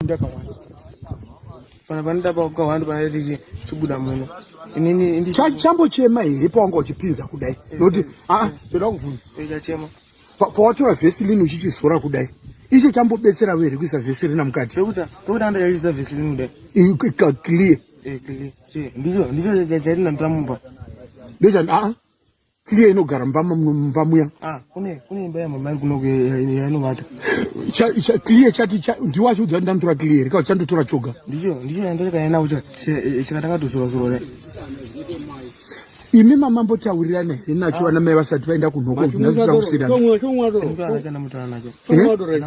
ndakawanda pana panoda pakawanda panaiti chibuda muno inini chambochema here pawanga uchipinza kudai nokuti aa ndoda kuvhunzachema pawatora vesilini uchichisora kudai icho chambobetsera vere kuisa vesilina mukati pekuti pekuti ndakaisa vesilini kudai ika clear ndicho ndicho chatinandamumba ndochan aa Tiriya inogara mumba mumba muya. Ah, kune kune imba ya mama kuno yainovata. Cha cha clear chati cha ndiwa cho dzanda ndura clear ka chando tora choga. Ndicho ndicho yando ka yana ucha chikatanga tusura sura ne. Imi mama mbo tawirira ne ina cho ana mai vasati vaenda kunoko ndazvira kusira. Chomwa chomwa do. Ndura kana mutana nacho. Chomwa do resa.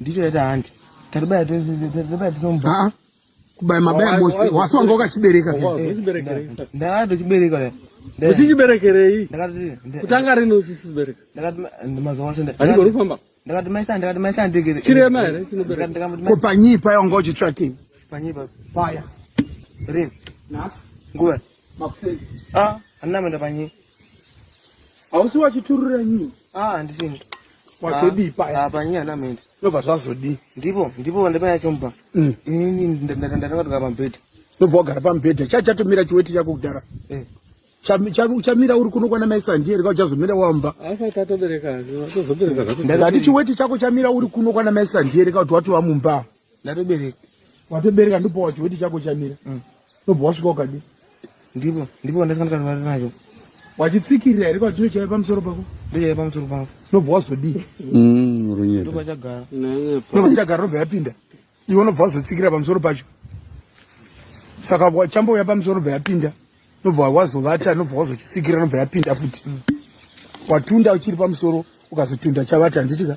ndicho yaita hanti tatibaya tatibaya tinomba ah, kubaya mabaya bosi wasi wanga wakachibereka ndakati uchibereka uchichiberekerei kutanga rini uchisibereka mazuva ose achigorufamba ndakati maisa ndakati maisa ndegere chirema here chinobereka ko panyii paya wanga uchitsvakei panyii paya rini nguva Makuseni. Ah, andina menda panyi. Hausi wachiturura nyini. Ah, andisini. Wazodii ah, paya? Ah, panyi andina menda. Ndobva zvazodii? Ndipo, ndipo vandipaya chomba. Mm. Ini ndatanga kugara pambhedha. Ndobva wagara pambhedha. Chai chatomira chiweti chako kudhara. Eh. Chamira uri kuno kwana mai Sandie rega uchazomira wamba. Asati atobereka, atozobereka zvako. Ndati chiweti chako chamira uri kuno kwana mai Sandie rega kuti watova mumba. ndatobereka watobereka ndipo wachiweti chako chamira mm. ndobva wasvika ukadi ndipo ndipo wandakandikanwari nacho wachitsikirira here kwachiro chaive pamusoro pako ndochaive pamusoro pako ndobva wazodii mm, runyedonobva chagara ndobva chagara ndobva yapinda iwe unobva wazotsikirira pamusoro pacho saka chambouya pamusoro ndobva yapinda ndobva wazovata ndobva wazotsikirira ndobva yapinda futi mm. watunda uchiri pamusoro ukazotunda chavata handitika